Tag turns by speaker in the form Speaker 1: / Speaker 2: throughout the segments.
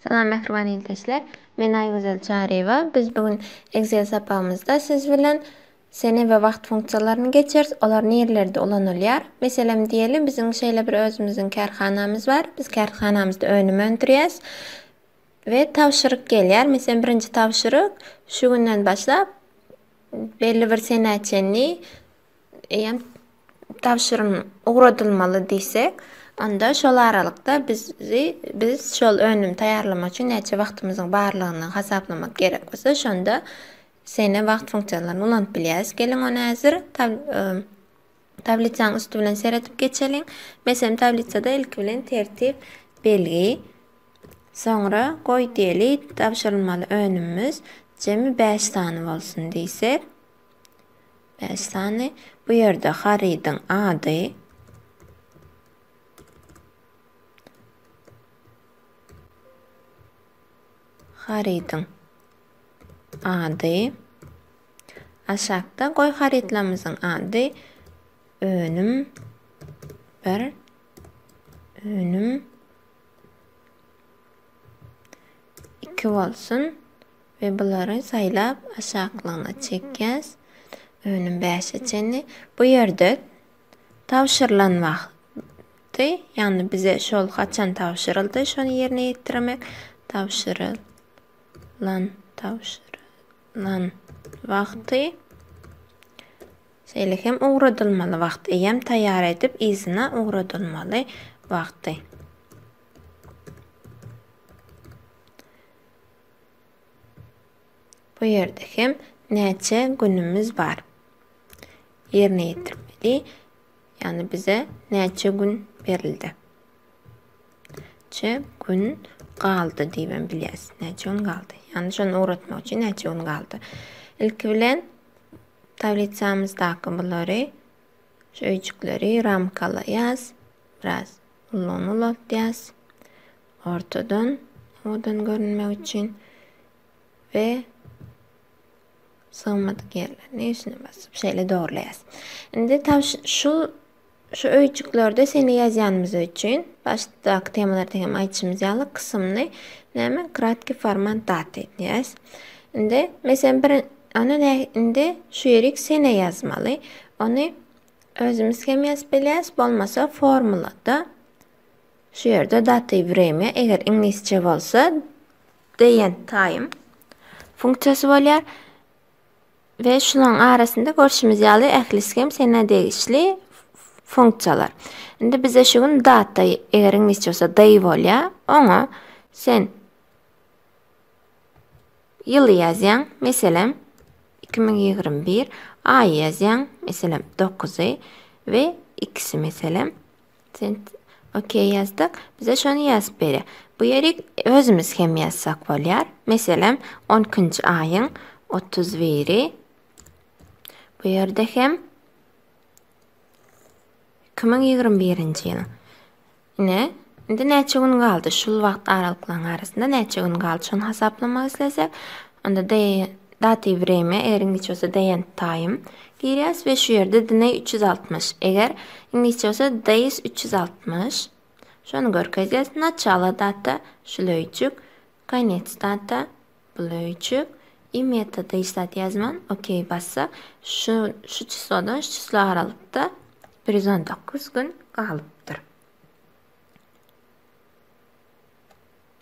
Speaker 1: Salam mähriban ildeşler. Men Aýgözel Çaryýewa. Biz bu gün Excel sapagymyzda siz bilen Sene we wagt funksiýalaryny geçiris, olar nirelerde ulanylýar? Meselem diýeli biziň şeýle bir özümiziň kärhanamyz bar, biz kärhanamyzda önüm öndürýäs we tabşyryk gelýär, meselem birinji tabşyryk şu günden başlap belli bir senä çenli eýýäm tabşyrym ugradylmaly diýsek, onda şol aralykda bizi biz şol önüm taýýarlamak üçin näçe wagtymyzyň barlygyny hasaplamak gerek bolsa şonda. Sene wagt funksiýalaryny ulanyp bilýäris. Geliň ony häzir tablisiýanyň üsti bilen seredip geçeliň. Meselem, tablisada ilki bilen tertip belgi, soňra goý diýeli, tabşyrylmaly önümimiz jemi bäş sany bolsun diýsek. Bäş sany. Bu ýerde harydyň ady, harydyň ady. Aşakda goý harytlarymyzyň ady önüm 1 önüm 2 bolsun we bulary saýlap aşaklygyna çekýäs. Önüm 5-e çenli. Bu ýerde tabşyrylan wagt tabşyryldy. Yani bize şol haçan tabşyryldy, şony yerine yetirmek tabşyryldı. Lan tabşyrylan wagty şeýle hem ugradylmaly wagty eýýäm taýýar edip yzyna ugradylmaly wagty. Bu ýerde hem näçe günümiz bar ýerine ýetirmeli. Ýagny bize näçe gün berildi. Çe gün galdy diýibem bilýäs. Näçe gün galdy. Ýagny şony ugratmak üçin näçe gün galdy. Ilki bilen tablisamyzdaky bulary şu öýjükleri ramkalaýas. Biraz ullagyny ulaltýas. Ortadan owadan görünmek üçin we Sygmadyk ýerlerini üstüne basyp şeýle dogrylaýas. Indi tab şu şu öýjüklerde seni ýazýanymyz üçin başdaky temalarda hem aýdyşymyz ýaly kysymny näme kratki format dat edýäs. Indi meselen bir ony ne indi şu ýerik sene ýazmaly. Ony özümiz hem ýazyp bilýäs, bolmasa formulada şu ýerde data i eger iňlisçe bolsa Date time funksiýasy bolýar we şularyň arasynda görşümiz ýaly ählisi hem senä degişli funksiýalar. Indi bize şu gün data, eger iňlisçe bolsa day bolýar, oňa sen ýyly ýazýaň, meselem 2021, aýy ýazýaň, meselem 9-y we ikisi meselem Sent ok ýazdyk. Bize şony ýazyp berýär. Bu ýeri özümiz hem ýazsak bolýar. Meselem, on ikinji aýyň otuz biri. Bu ýerde hem iki müň ýigrimi birinji ýylyň. Ine, indi näçe gün galdy? Şul wagt aralyklaryň arasynda näçe gün galdy? Şony hasaplamak islesek, Onda de Datiw wremýa, eger iňlisçe bolsa deent taýym, girýäs we şu ýerde dne üç ýüz altmyş, eger iňlisçe bolsa days üç ýüz altmyş, şony görkezýäs, naçalo data, şul öýjük, konec data, bul öýjük, i metoda hiç zat ýazman, okey bassak, şu, şu çyslodan şu çysla aralykda bir ýüz on dokuz gün galypdyr.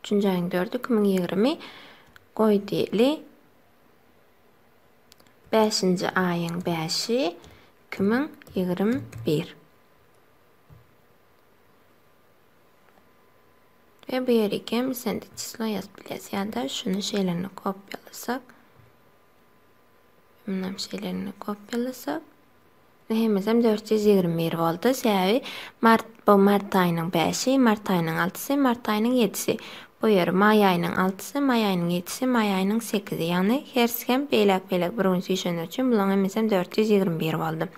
Speaker 1: Üçünji aýyň dördi iki müň ýigrimi. Goý diýeli. Bäşinji aýyň bäşi iki müň ýigrimi bir. Ve bu yeri kem isende çislo yazıp bilesiz ya da şunu şeylerini kopyalasak. Bundan şeylerini kopyalasak. Hemmesem dört ýüz ýigrimi bir boldy. Sebäbi mart bu mart aýynyň bäşi, mart aýynyň altysy, mart aýynyň ýedisi. Bu ýeri maý aýynyň altysy, maý aýynyň ýedisi, maý aýynyň sekizi. Ýagny hersi hem beýläk-beýläk bir gün süýşenler üçin bularyň hemmesem dört ýüz ýigrimi bir boldy.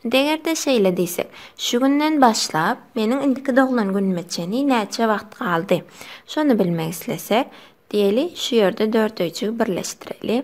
Speaker 1: Indi eger-de şeýle diýsek, şu günden başlap meniň indiki doglan günüme çenli näçe wagt galdy? Şony bilmek islesek, diýeli, şu ýerde dörtöýjigi birleşdireli.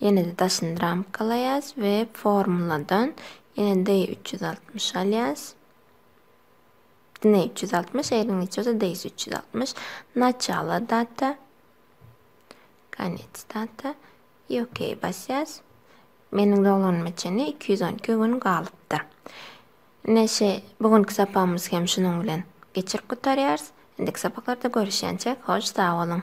Speaker 1: Ýene-de daşyny ramkalaýas we formuladan ýene Day üç ýüz altmyş alýas. Dne üç ýüz altmyş, eýriň niçe bolsa Days üç ýüz altmyş. Naçalo data. Konec data. I OK basýas. Meniň doglanma çenli iki ýüz on iki gün galypdyr. Ine şe, bu günki sapagymyz hem şunuň bilen geçirip gutarýarys. Indiki sapaklarda görüşýänçäk, hoş sag boluň!